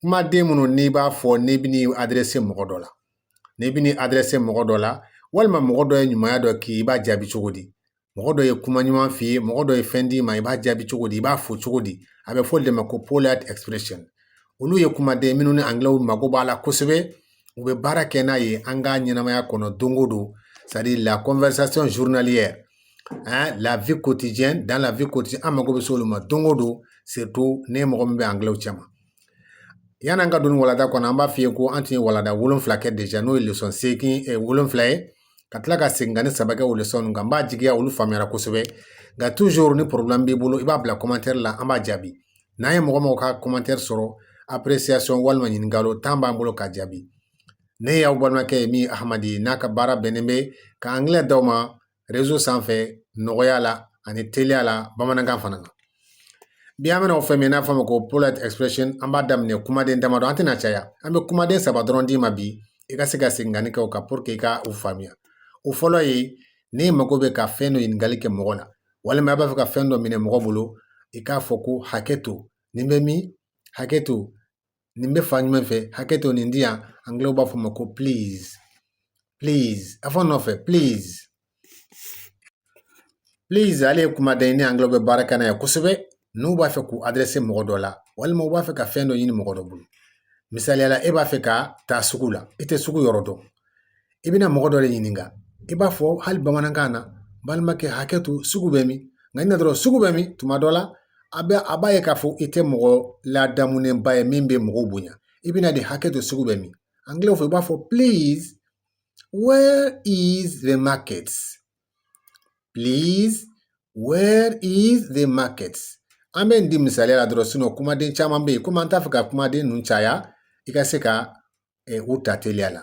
kumaden minnu n'i b'a fɔ n'i bɛ n'i aderese mɔgɔ dɔ la n'i bɛ n'i aderese mɔgɔ dɔ la walima mɔgɔ dɔ ye ɲumanya dɔ k'i ye i b'a jaabi cogo di mɔgɔ dɔ ye kuma ɲuman f'i ye mɔgɔ dɔ ye fɛn d'i ma i b'a jaabi cogo di i b'a fo cogo di a bɛ fɔ o de ma ko polite expression olu ye kumaden minnu ni angilɛw mago b'a la kosɛbɛ u bɛ baara kɛ n'a ye an ka ɲɛnamaya kɔnɔ don o don c'est à dire la conversation journalière hein, la vie quotidienne dans la vie quotidienne an mago bɛ s'olu ma don o don surtout ni mɔgɔ min bɛ angilɛw cɛma yann'an ka don walanda kɔnɔ an b'a f'i ye ko an tun ye walanda wolonfila kɛ déjà n'o ye leçon seegin eh, wolonfila ye ka tila ka segin ka ne saba kɛ o leçon ninnu kan n b'a jigiya olu faamuyara kosɛbɛ nka toujours ni problème b'i bolo i b'a bila commentaire la an b'a jaabi n'an ye mɔgɔ mɔgɔ ka commentaire sɔrɔ appréciation walima ɲininkali tan b'an bolo ka jaabi Ne y'aw balimakɛ ye min hamadi n'a ka baara bɛnnen bɛ ka angilɛ d'aw ma rezo sanfɛ nɔgɔya la ani teliya la bamanankan fana na bi an bɛna o fɛn min n'a fɔ ma ko polite expression an b'a daminɛ kumaden damadɔ an tɛna caya an bɛ kumaden saba dɔrɔn d'i ma bi i ka se ka seginkanni kɛ o kan pour que i ka u faamuya o fɔlɔ ye n'e mago bɛ ka fɛn dɔ ɲininkali kɛ mɔgɔ la walima i b'a fɛ ka fɛn dɔ minɛ mɔgɔ bolo i k'a fɔ ko hakɛ to nin bɛ min hakɛ to nin bɛ fan jumɛn fɛ hakɛ to nin di yan angilɛw b'a fɔ ma ko please please a fɔ n nɔfɛ please please ale ye kumaden ye ni angilɛw bɛ baara kɛ n'a ye kosɛbɛ n'u b'a fɛ k'u aderese mɔgɔ dɔ la walima u b'a fɛ ka fɛn dɔ ɲini mɔgɔ dɔ bolo misaliya la e b'a fɛ ka taa sugu la i tɛ sugu yɔrɔ dɔn i bɛna mɔgɔ dɔ de ɲininka i b'a fɔ hali bamanankan na balimakɛ hakɛ to sugu bɛ min nka i na dɔrɔn sugu bɛ min tuma dɔ la a bɛ a b'a ye k'a fɔ i tɛ mɔgɔ ladamunenba ye min bɛ mɔgɔw bonya i bɛna de hakɛ to sugu bɛ min angilɛw fɛ i b'a fɔ please where is the market please where is the market an bɛ nin di misaliya la dɔrɔn sinɔn kumaden caman bɛ yen komi an t'a fɛ ka kumaden ninnu caya i ka se ka eh, u ta teliya la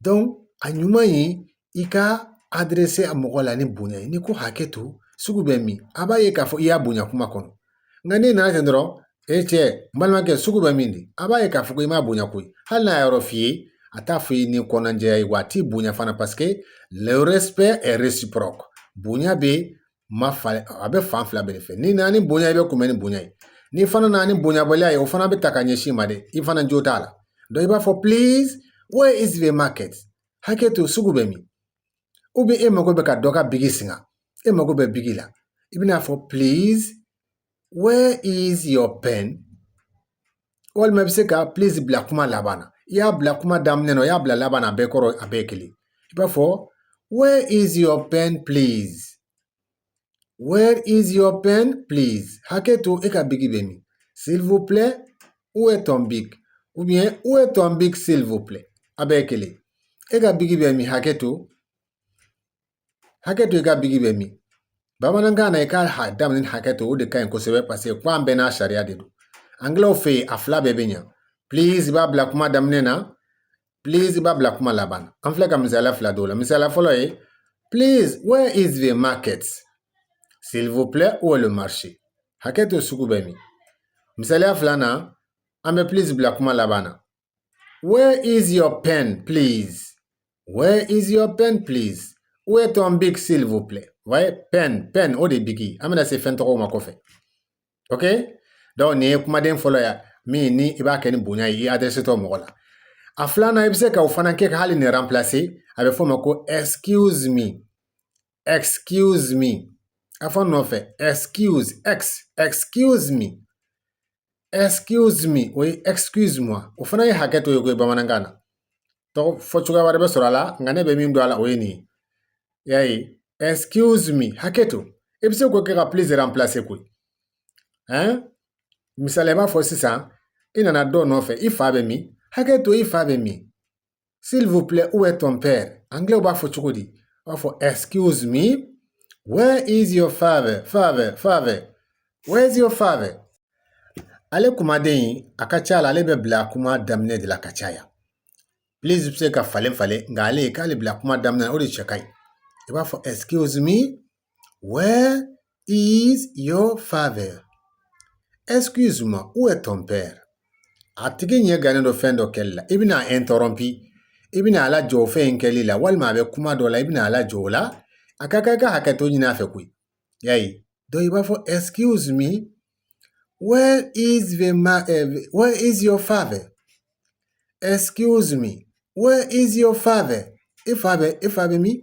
donc a ɲuman ye i ka aderese a mɔgɔ la ni bonya ye n'i ko hakɛ to sugu bɛ min a b'a ye k'a fɔ i y'a bonya kuma kɔnɔ nka n'i nana ten dɔrɔn e cɛ n balimakɛ sugu bɛ min di a b'a ye k'a fɔ ko i m'a bonya koyi hali n'a y'a yɔrɔ f'i ye a t'a fɔ i ni kɔnɔnajɛya ye wa a t'i bonya fana parce que le respect est réciproque bonya bɛ ma fa a bɛ fan fila bɛɛ de fɛ n'i nana ni bonya ye i bɛ kunbɛn ni bonya ye n'i fana nana ni bonyabaliya ye o fana bɛ taa ka ɲɛsin i ma dɛ i fana jo t'a la donc i b'a fɔ please where is the market hakɛ to sugu bɛ min ou bien e mago bɛ ka dɔ ka bigi singa e mago bɛ bigi la i bɛn'a fɔ please where is your pen walima i bɛ se ka please bila kuma laban na i y'a bila kuma daminɛ na i y'a bila laban na a bɛɛ kɔrɔ a bɛɛ kelen i b'a fɔ where is your pen please where is your pen please hakɛ to e ka bigi bɛ min s'il vous plaît où est ton bic ou bien où est ton bic s'il vous plaît a bɛɛ kelen e ka bigi bɛ min hakɛ to hakɛ to i ka bigi bɛ min bamanankan na i ka daminɛ hakɛ to o de ka ɲi kosɛbɛ paseke kan bɛɛ n'a sariya de don angilɛw fɛ yen a fila bɛɛ bɛ ɲa please i b'a bila kuma daminɛ na please i b'a bila kuma laban na an filɛ ka misaliya fila d'aw ma misaliya fɔlɔ ye please where is the market s'il vous plaît où est le marché hakɛ to sugu bɛ min misaliya filanan an bɛ please bila kuma laban na Where is your pen, please? Where is your pen, please? Où est ton bic, s'il vous plaît? Ouais, pen, pen, o de bigi. An bɛna se fɛn tɔgɔw ma kɔfɛ. Ok? Donc nin ye kumaden fɔlɔ ye min ni i b'a kɛ ni bonya ye i adressetɔ mɔgɔ la. A filanan i bɛ se ka o fana kɛ ka hali nin remplacer a bɛ f'o ma ko excuse me. excuse me a fɔ n nɔfɛ excuse ex excuse me excuse me o ye excuse moi o fana ye hakɛ to ye koyi bamanankan na tɔgɔ fɔ cogoya wɛrɛ bɛ sɔrɔ a la nka ne bɛ min don a la o ye nin ye y'a ye excuse me hakɛ to i bɛ se k'o kɛ ka please remplacer koyi ɛn misali i b'a fɔ sisan i nana dɔ nɔfɛ i fa bɛ min hakɛ to i fa bɛ min s'il vous plaît où est ton père angilɛw b'a fɔ cogo di u b'a fɔ excuse me where is your father father father where is your father ale kumaden a ka ca la ale bɛ bila kuma daminɛ de la ka caya please bɛ se ka falen falen nka ale k'ale bila kuma daminɛ o de cɛ ka ɲi i b'a fɔ excuse me Where is your father? Excuse me, où est ton père? A tigi ɲɛ gannen don fɛn dɔ kɛli la i bɛna a interrompre i bɛna a lajɔ o fɛn in kɛli la walima a bɛ kuma dɔ la i bɛna a lajɔ o la a ka kan i ka hakɛto ɲini a fɛ koyi y'a ye donc i b'a fɔ excuse me where is the ma uh, where is your father excuse me where is your father i fa bɛ i fa bɛ min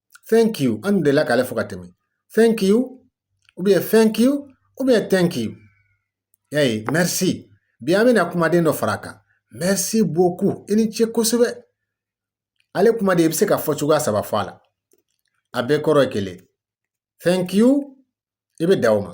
thank you an dun delila k'ale fɔ ka tɛmɛ thank you ou bien thank you ou bien thank you y'a ye merci bi an bɛna kumaden dɔ fara a kan merci beaucoup i ni ce kosɛbɛ ale kumaden i bɛ se ka fɔ cogoya saba fɔ a la a bɛɛ kɔrɔ ye kelen thank you i bɛ dan o ma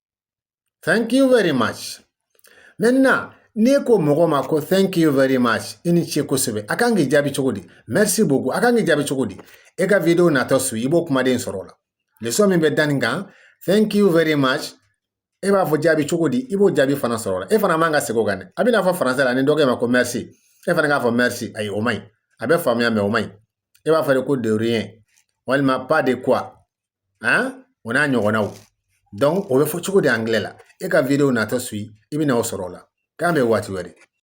thank you very much maintenant n'e ko mɔgɔ ma ko thank you very much i ni ce kosɛbɛ a kan k'i jaabi cogo di merci beaucoup a kan k'i jaabi cogo di e ka video natɔ suivi i b'o kumaden sɔrɔ o la leçon min bɛ da nin kan thank you very much e b'a fɔ jaabi cogo di i b'o jaabi fana sɔrɔ o la e fana man ka segin o kan dɛ a b'i n'a fɔ français la ni dɔ k'e ma ko merci e fana k'a fɔ merci ayi o man ɲi a bɛ faamuya mais o man ɲi e b'a fɔ de ko de rien walima pas de quoi o n'a ɲɔgɔnnaw donc o bɛ fɔ cogo di angilɛ la? E ka video natɔ suivi i bɛna o sɔrɔ o la k'an bɛn waati wɛrɛ